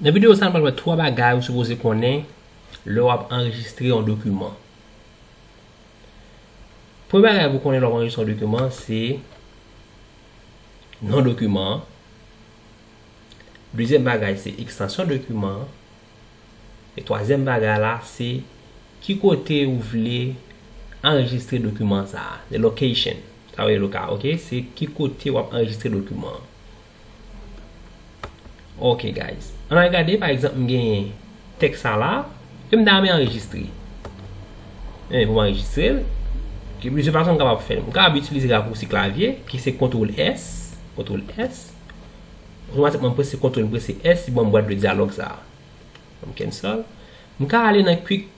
Nan videyo sa nou pral wè 3 bagay ou sipoze konnen lè wap anrejistre yon dokiman. Premye bagay pou konnen lè wap anrejistre yon dokiman se non dokiman an, dezyèm bagay se ekstansyon dokiman an, e twazyèm bagay la se ki kote ou vle anrejistre dokiman sa a, the location, sa vle di loka ok, se ki kote wap anrejistre dokiman an. Ok guys An al gade pa egzanp m genyen tèks sa la e m ta renmen anrejistre Men pou m anrejistre l Gen plizyè fason m kapab fè l M kapab itilize rakousi klavye ki se kontwol S kontwol S Otomatikman m prese kontwol m prese S li ban m bwat de dyalòg sa a M kensòl M ka ale nan kwik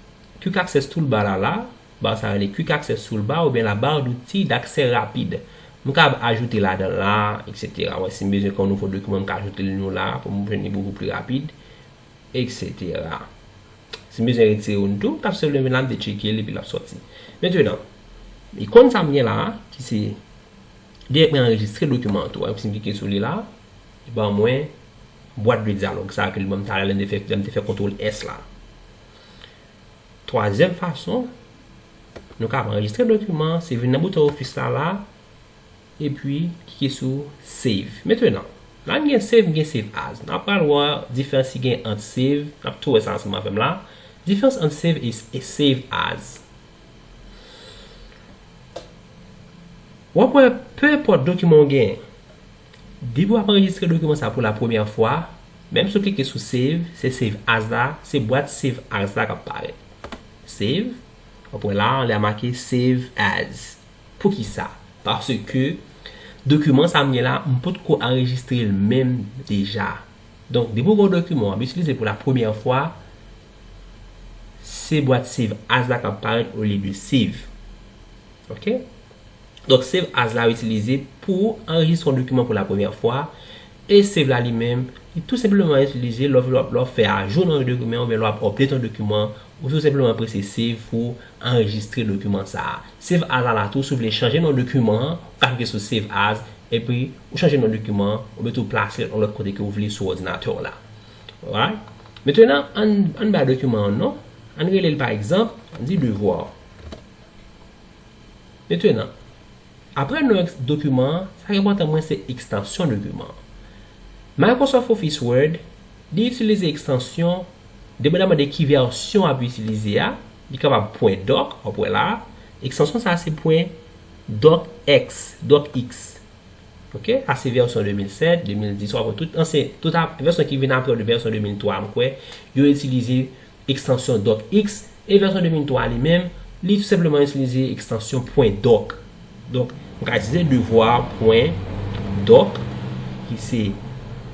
kwik aksès toulba la la Bar sa rele Quick Access Toolbar oubyen la barre d'outils d'accès rapide. M kab ajoute ladan la, etc. Wè si m bezwen kè yon nouvo dokiman m ka ajoute l nou la pou m jwenn li bokou pli rapid, etc. Si m bezwen retire youn tou, m kab senpleman vin la m detcheke l epi l ap sòti. Mentenan, ikon sa m gen la ki se Li ap anrejistre dokiman an tou a, si m klike sou li la, li ban mwen bwat de dyalòg sa ke li ban m talè lè m te fè kontwol S la. Twazyèm fason nou ka ap anrejistre dokiman an se vin nan bouton ofis la la epi klike sou save. Mentenan, la m gen save m gen save as. N ap pral wè diferans ki gen ant save, n ap tou wè sa ansanm avè m la, diferans ant save e save as. W ap wè, pe enpòt dokiman ou gen, Depi w ap anrejistre dokiman sa pou la premyè fwa, menm si w klike sou Save, se Save As la, se bwat Save As la k ap parèt. Save. W ap wè la a, anlè a make Save As. Poukisa? Paske, dokiman sa a m gen la a, m potko anrejistre l menm deja. Donk, depi w gen yon dokiman w ap itilize pou la premyè fwa, se bwat Save As la k ap parèt olye de Save. Ok. Donk save as la itilize pou ou anrejistre yon dokiman pou la premyè fwa e save la li menm li tou senpleman itilize lè w ap fè ajou nan yon dokiman oubyen lè w ap update yon dokiman ou tou senpleman prese save pou w anrejistre dokiman sa a. Save as la la tou si w vle chanje non dokiman an ou ka klike sou save as epi ou chanje non dokiman an oubyen tou plase l yon lòt kote ke w vle sou òdinatè w la alright. Mentena ann bay dokiman an non ann rele l pa egzanp ann di devoir. Metenan, apre non dokiman an, sa k enpòtan mwen se ekstansyon dokiman an. Microsoft Office Word, li itilize ekstansyon, depandaman de ki vèsyon w ap itilize a, li kapab pwen doc, w ap wè la a, ekstansyon sa a se pwen docx, docx. Ok, sa se vèsyon 2007, 2010, w ap wè tout ansyen, tout vèsyon ki vin apre vèsyon 2003 m kwè, yo itilize. ekstansyon docx, e vèsyon 2003 a li menm, li tou senpleman itilize ekstansyon pwen doc. Donk, m ka itilize devoir pwen doc, ki se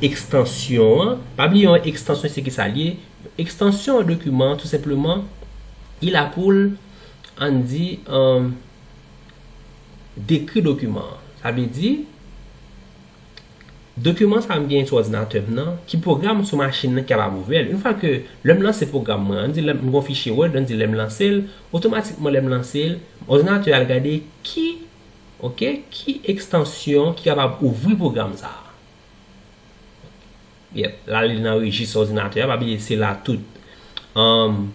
ekstansyon an, pa bliye yon ekstansyon se ki sa l ye, yon ekstansyon yon dokiman tou senpleman li la pou l, an n di, dekri dokiman an. Sa vle di, Dokiman sa m genyen sou òdinatè m nan, ki pwogram sou machin nan ki kapab ouvè l. Yon fwa ke lè m lanse pwogram mwen an, ann di lè m gen yon fichye Word, ann di lè m lanse l, otomatikman lè m lanse l, òdinatè a al gade ki, ok, ki ekstansyon ki kapab ouvri pwogram sa a. Yep, l ale nan rejis òdinatè a, pa bliye se la tout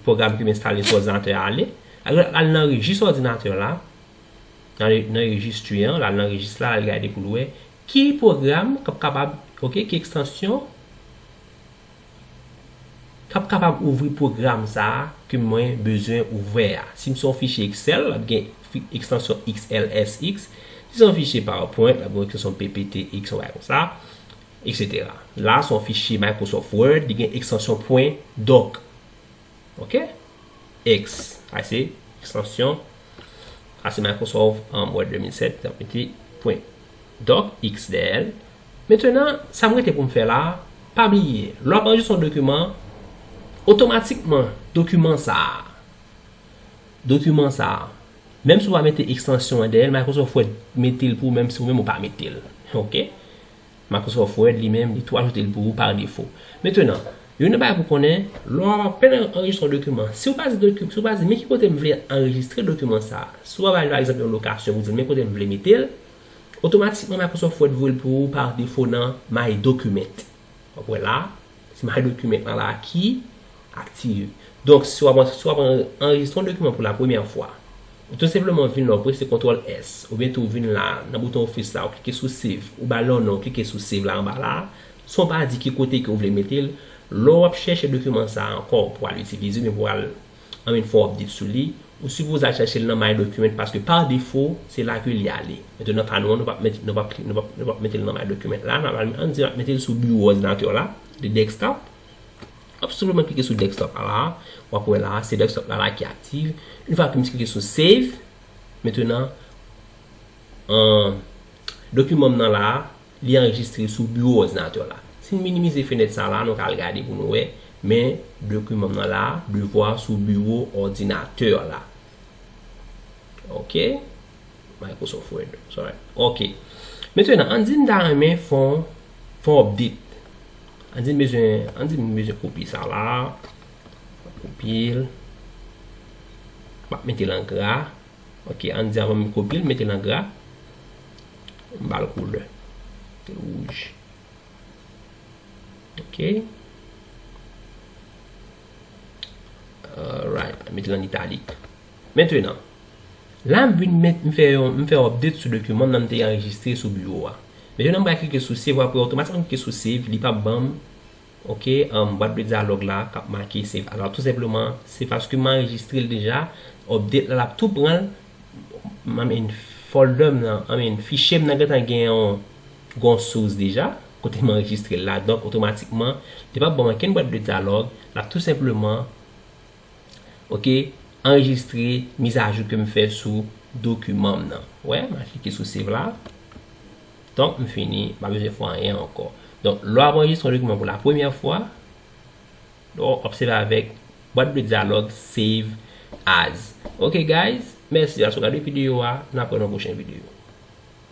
pwogram ke m enstale sou òdinatè a ale. Al nan rejis òdinatè la. Nan rejis tu an, l al nan rejis la, al gade pou l wè ki pwogram k ap kapab, ok, ki ekstansyon k ap kapab ouvri pwogram sa a ke mwen bezwen ouvè a. Si m se yon fichye Excel, l ap gen ekstansyon XLSX. Si se yon fichye PowerPoint, l ap gen yon ekstansyon PPTX, yon bagay kon sa, eksetera. La, se yon fichye Microsoft Word, li gen ekstansyon pwen dòk. ok ex a se ekstansyon a se microsoft an word 2007 ap mete pwen dòk x dèyè l mentenan sa mwen te pou m fè la pa bliye lè w ap anrejistre yon dokiman otomatikman dokiman sa a dokiman sa a menm si w pa mete ekstansyon an dèyè l microsoft wè mete l pou w menm si w menm ou pa mete l ok Microsoft Word li menm li tou ajoute l pou ou par defo. Metenan, youn nan bagay pou konnen, lè w ap apenn anrejistre yon dokiman, si w pa di doki, si w pa di men ki kote m vle anrejistre dokiman sa a, si w pa bay pa egzanp yon lokasyon pou di l men kote m vle mete l, otomatikman Microsoft Word voye l pou ou par defo nan My Document. W ap wè la, se My Document lan la ki. Aktive. Donk, si w ap si w ap anrejistre yon dokiman pou lapremyè fwa, ou tou senpleman vin la, ou prese kontwòl S, oubyen tou ou vin la a, nan bouton Office la, ou klike sou Save, ou ba l yon non, ou klike sou Save la anba la a, san w pa di ki kote ke ou vle mete l. Lè w ap chèche dokiman sa a ankò pou w al itilize oubyen pou w al an vin fè yon update sou li, ou sipoze al chèche l nan My Document paske pa defo, se la ke li ale. Metou nan ka nou an, nou p ap mete nou p ap nou p ap nou p ap mete l nan My Document la, n ap al ann di n ap mete l sou biwo òdinatè w la, de Desktop. Wap senpleman klike sou desktop la la a, wap wè la a se desktop la la a ki aktiv, une fwa ke m klike sou save, mentenan dokiman m nan la a li anrejistre sou biwo òdinatè w la. Si n minimize fenèt sa la a nou ka al gade pou nou wè, men dokiman m nan la a, devwa sou biwo òdinatè w la. Ok. Microsoft Word Sorry Ok Mesye nan an di m ta renmen fon Fon update An di m bezwen An di m bezwen kopye sa la Kopye l M ap mete l an gra Ok an di avan m kopye l mete l an gra M ba l koulè Mete l wouj Ok Alright Mete l an italik Mentenan La m vin met, m fè yon, m fè yon update sou dokiman m nan m te anrejistre sou biwo a. Mete nan m pral klike sou save aprè otomatikman m klike sou save li pap banm ok an bwat de dyalòg la kap make save as la tou senpleman se paske m anrejistre l deja update la lap tou pran l I mean folder m nan I mean fichye m nan gentan gen yon gon source deja kote m anrejistre l la donk otomatikman li pap banm ankenn bwat de dyalòg lap tou senpleman Ok anrejistre mizajou ke m fè sou dokiman m nan. Ou wè, m al klike sou save la. Donk m fini, m pa bezwen fè anyen ankò. Donk lè w ap anrejistre yon dokiman pou la premyè fwa, ou obsève avèk bwat de dyalòg save as. Ok guys, mèsi paske w gade videyo a, n ap wè nan pwochen videyo.